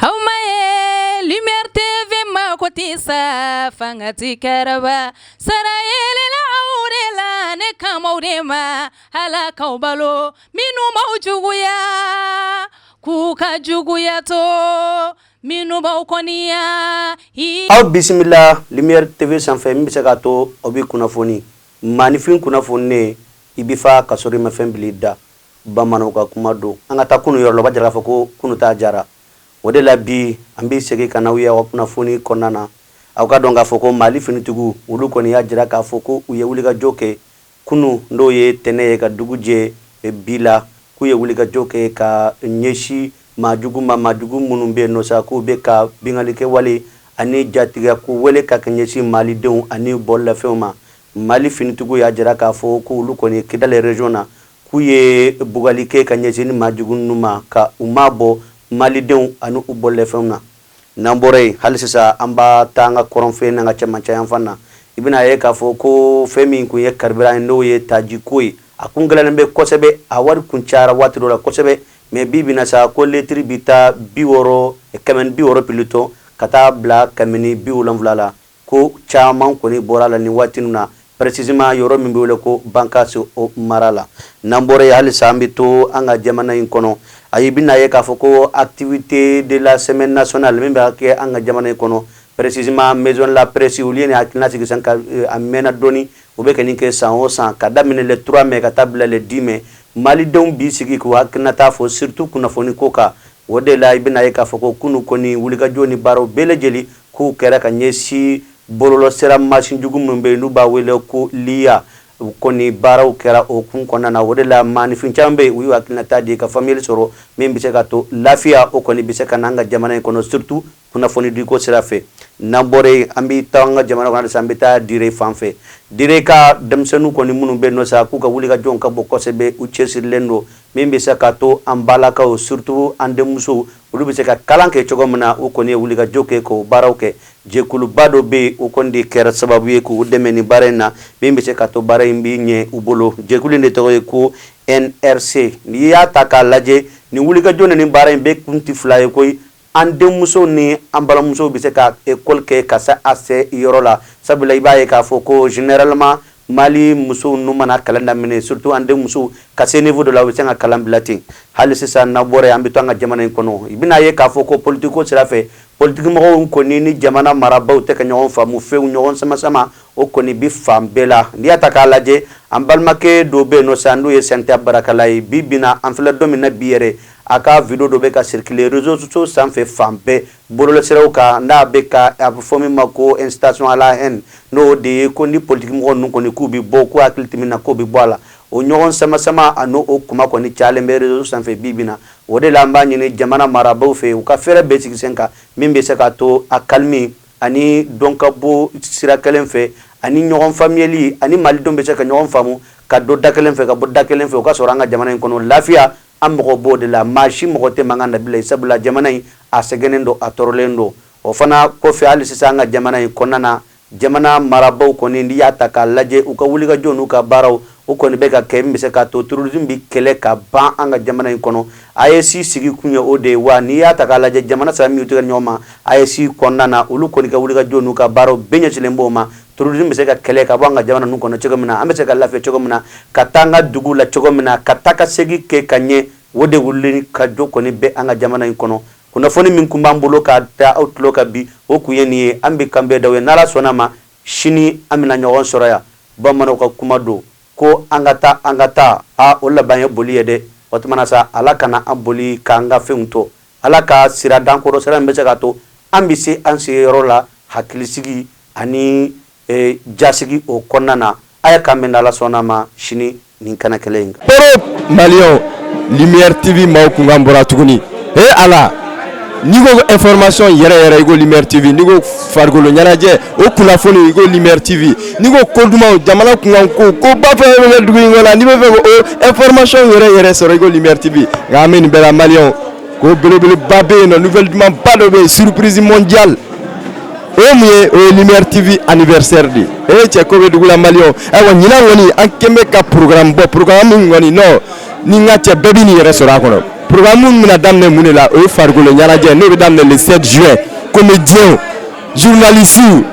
aw ma ye lumière TV mago tɛ sa fanga ti kɛrɛba sara yelela aw de la ne kan b'aw de ma Ala k'aw balo minnu b'aw juguya k'u ka juguya to minnu b'aw kɔniya aw bisimila lumière TV sanfɛ min bɛ se k'a to aw bɛ kunnafoni maaninfin kunnafoninen i bɛ fa ka sɔrɔ i ma fɛn bila i da. Bamananw ka kuma don. An ka taa kunu yɔrɔ la, o b'a jira k'a fɔ ko kunu taa jara. O de la bi, an bɛ segin ka na aw ye aw ka kunnafoni kɔnɔna na. Aw ka dɔn k'a fɔ ko Mali finitigiw, olu kɔni y'a jira k'a fɔ ko u ye wulikajɔ kɛ kunu, n'o ye tɛnɛ ye, ka dugu jɛ bi la, k'u ye wulikajɔ kɛ ka ɲɛsin maa jugu ma, maa jugu minnu bɛ yen nɔ sa, k'u bɛ ka binkannikɛwale ani jatigɛko wale ka ɲɛsin Malidenw ani bololafɛnw ma. Mali finitigiw y'a jira k'a fɔ ko olu kɔni ye Kidali région na, k'u ye bugali kɛ ka ɲɛsin maajugu ninnu ma ka u mabɔ Malidenw ani u bololafɛnw na. N'an bɔra yen, hali sisan an bɛ taa an ka kɔrɔnfɛ n'an ka cɛmancɛyanfan na, i bɛna a ye k'a fɔ ko fɛn min kun ye carburant ye n'o ye taji ko ye, a kun gɛlɛyalen bɛ kosɛbɛ, a wari kun cayara waati dɔ la kosɛbɛ, mais bi bi in na sa, ko litiri bɛ taa bi wɔɔrɔ, kɛmɛ ni bi wɔɔrɔ plutôt, ka taa bila kɛmɛ ni bi wolonwula la, Ko caman kɔni bɔra a la nin waati ninnu na précisément yɔrɔ min bɛ wele ko Bankasi o mara la. N'an bɔra yen halisa an bɛ to an ka jamana in kɔnɔ, ayi i bɛn'a ye k'a fɔ ko activité de la semaine nationale min bɛ kɛ an ka jamana in kɔnɔ précisément maison de la presse olu ye nin hakilina sigi sisan ka a mɛɛnna dɔɔni u bɛ ka nin kɛ san o san ka daminɛ le 3 mai ka taa bila le 10 mai Malidenw b'i sigi k'u hakilinata fɔ surtout kunnafoni ko kan o de la i bɛn'a ye k'a fɔ ko kunu kɔni wulikajɔ ni baaraw bɛɛ lajɛlen K'u kɛra ka ɲɛsin bɔlɔlɔsira mansin jugu minnu bɛ yen n'u b'a wele ko l'IA, u kɔni baaraw kɛra o hukumu kɔnɔna na. O de la, maaninfin caman bɛ yen, u y'u hakilinata di ka faamuyali sɔrɔ min bɛ se ka to lafiya, o kɔni bɛ se ka na an ka jamana in kɔnɔ surtout kunnafonidiko sira fɛ. N'an bɔra yen, an bɛ to an ka jamana kɔnɔ halisa, an bɛ taa Dire fan fɛ. Dire ka denmisɛnninw kɔni minnu bɛ yen nɔ sa, k'u ka wulikajɔw ka bon kosɛbɛ, u cɛsirilen don min bɛ se ka to an balakaw surtout an denmusow olu bɛ se ka kalan kɛ cogo min na u kɔni ye wulikajɔ kɛ k'o baaraw kɛ jɛkuluba dɔ bɛ yen o kɔni de kɛra sababu ye k'u dɛmɛ nin baara in na min bɛ se ka to baara in bɛ ɲɛ u bolo jɛkulu in de tɔgɔ ye ko NRC n'i y'a ta k'a lajɛ nin wulikajɔ ni nin baara in bɛɛ kun tɛ fila ye koyi An denmuso ni an balimamuso bɛ se ka ekɔli kɛ ka se a se yɔrɔ la sabula i b'a ye k'a fɔ ko généralement Mali musow n'u mana kalan daminɛ surtout an denmuso ka se niveau dɔ la u bɛ se ka kalan bila ten hali sisan n'an bɔra yen an bɛ to an ka jamana in kɔnɔ i bɛn'a ye k'a fɔ ko politikiko sira fɛ politikimɔgɔw kɔni ni jamana marabaw tɛ ka ɲɔgɔn faamu fewu ɲɔgɔn samasama o kɔni bɛ fan bɛɛ la n'i y'a ta k'a lajɛ an balimakɛ dɔ bɛ yen nɔ sa n'o ye santa barakala ye bi bɛna an filɛ don min na bi yɛrɛ a ka video dɔ bɛ ka circuler réseaux sociaux sanfɛ fan bɛɛ bɔlɔlɔsiraw kan n'a bɛ ka a bɛ fɔ min ma ko incitation à la haine n'o de ye ko ni politikimɔgɔ ninnu kɔni k'u bɛ bɔ k'u hakili tɛ min na k'o bɛ bɔ a la o ɲɔgɔn samasama a n'o o kuma kɔni cayalen bɛ réseaux sanfɛ bi bi in na o de la an b'a ɲini jamana marabaaw fɛ u ka fɛɛrɛ bɛɛ sigi sen kan min bɛ se k'a to a calme ani donkabɔ sira kelen fɛ ani ɲɔgɔn faamuyali ani malidenw bɛ se ka ɲɔgɔn faamu ka don da kelen fɛ ka bɔ da kelen fɛ o ka sɔrɔ an ka jamana in kɔnɔ lafiya An mago b'o de la, maa si mago tɛ mankan na bilen, sabula jamana in, a sɛgɛnnen don, a tɔɔrɔlen don. O fana kɔfɛ, hali sisan an ka jamana in kɔnɔna na, jamana marabaaw kɔni, n'i y'a ta k'a lajɛ, u ka wulikajɔ n'u ka baaraw, o kɔni bɛ ka kɛ min bɛ se k'a to terrorisme bɛ kɛlɛ ka ban an ka jamana in kɔnɔ. AES sigi kun ye o de ye, wa n'i y'a ta k'a lajɛ, jamana saba minnu y'u tɛgɛ di ɲɔgɔn ma AES kɔnɔna na, olu kɔni ka wulikajɔ n'u ka baaraw bɛɛ ɲɛsinlen b'o ma. Terrorisme bɛ se ka kɛlɛ ka bɔ an ka jamana ninnu kɔnɔ cogo min na an bɛ se ka lafiya cogo min na ka taa an ka dugu la cogo min na ka taa ka segin kɛ ka ɲɛ o de wulikajɔ kɔni bɛ an ka jamana in kɔnɔ kunnafoni min tun b'an bolo ka da aw tulo kan bi o tun ye nin ye an bɛ k'an bɛn d'aw ye n'ala sɔnna a ma sini an bɛna ɲɔgɔn sɔrɔ yan bamananw ka kuma don ko an ka taa an ka taa a o laban ye boli ye dɛ o tuma na sa ala kana an boli k'an ka fɛnw to ala ka sira d'an kɔrɔ sira min bɛ se k'a to an bɛ se an sigiyɔrɔ la hakilisigi Ani jasigi o kɔnɔna na a ye ka min ala sɔnna a ma sini ni kɛnɛ kelen in mali mritibi maaw tun ka bɔra tuguni ee a la ni ko e fmasɔn yɛrɛ yɛrɛ imritibi ko farikolokolo ɲɛnajɛ o kunnafoni imritibi ni ko ko duman jamana tun ko ko bafɛ dugu in la ni bɛ fɛ e fmasɔn yɛrɛ yɛrɛ sɔrɔ imritibi nka min bɛ mali ko belebeleba bɛ yen nɔ nouvelle duman ba dɔ bɛ yen surprise mondiale o ye mun ye o ye lumière tv anniversaire de ye ee cɛ ko bɛ dugu la maliyɛnw ayiwa ɲinan kɔni an kɛn bɛ ka programme bɔ programme min kɔni nɔ ni n ka cɛ bɛɛ bɛn'i yɛrɛ sɔrɔ a kɔnɔ programme min bɛna daminɛ mun de la o ye farikolo ɲɛnajɛ n'o bɛ daminɛ le 7 juin comédiens journalistes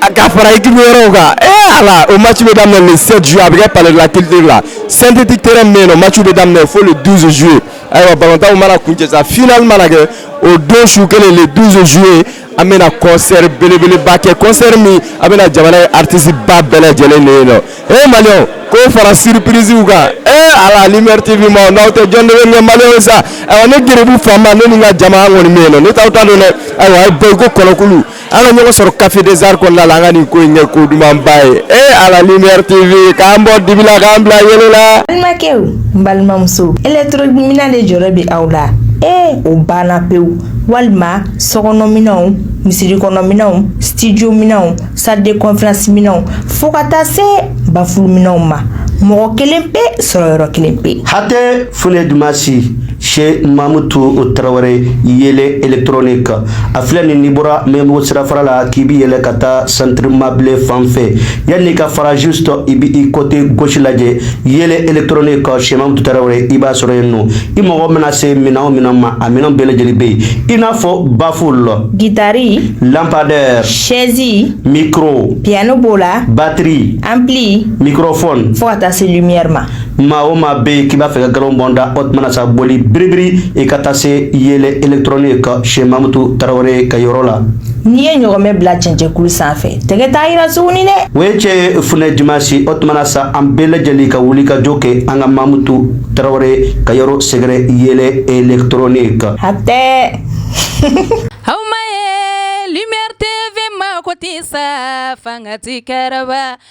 a ka fara équipe wɛrɛw kan ee ala o match bɛ daminɛ le 7 juin a bɛ kɛ palais de la culture la synthétique terrain min bɛ yen nɔ match bɛ daminɛ fo le 12 juillet ayiwa balontanw mana kuncɛ sa final mana kɛ o don su kelen le 12 juillet an bɛna concert belebeleba kɛ concert min a bɛna jamana ye artiste ba bɛɛ lajɛlen de ye nɔ ee maliyɛnw k'o fara surprise kan ee ala lumière tv ma n'aw tɛ jɔn de bɛ ɲɛ maliyɛnw sa ayiwa ne geribu fama ne ni n ka jama an kɔni bɛ yen nɔ ne t'aw ta dɔn dɛ ayiwa a ye bɔ i ko kɔnɔkulu an ka ɲɔgɔn sɔrɔ Café des Arts kɔnɔna la an ka nin ko in kɛ ko dumanba ye ee ala lumière TV k'an bɔ dibi la k'an bila yeelen la. Balimakɛw n balimamuso électronique minɛn de jɔrɔ bɛ aw la ee o banna pewu walima sokɔnɔminɛnw misirikɔnɔminɛnw studio minɛnw salle de conférence minɛnw fo ka taa se bafuluminɛnw ma mɔgɔ kelen pe sɔrɔ yɔrɔ kelen pe. Hatɛ fule dumasi. sɛki mamutu tarawele yeelen électronique a filɛ n'i bɔra maɲanbugu sirafara la k'i bɛ yɛlɛ ka taa centre mabile fan fɛ yanni ka fara juste i bɛ i côté gauche lajɛ yeelen électronique sɛki mamutu tarawele i b'a sɔrɔ yen nɔ i mago mana se minɛn min ma a minɛn bɛɛ lajɛlen bɛ yen i n'a fɔ baffle gitari lampadaire sɛzi mikoro piano b'o la batiri ampli mikrofon fo ka taa se lumière ma maa o maa bɛ yen k'i b'a fɛ ka galo bɔ n da o tuma na sa boli biribiri i ka taa se yeelen électronique sɛki mamutu tarawele ka yɔrɔ la. n'i ye ɲɔgɔmɛ bila cɛncɛnkulu sanfɛ tɛgɛ t'a yira tuguni dɛ. o ye cɛ ye funɛ dimansi o tuma na sa an bɛɛ lajɛlen ka wuli ka jɔ kɛ an ka mamutu tarawele ka yɔrɔ sɛgɛrɛ yeelen électronique. hatɛ. aw ma ye lumière tv mago tɛ sa fanga ti kɛrɛba.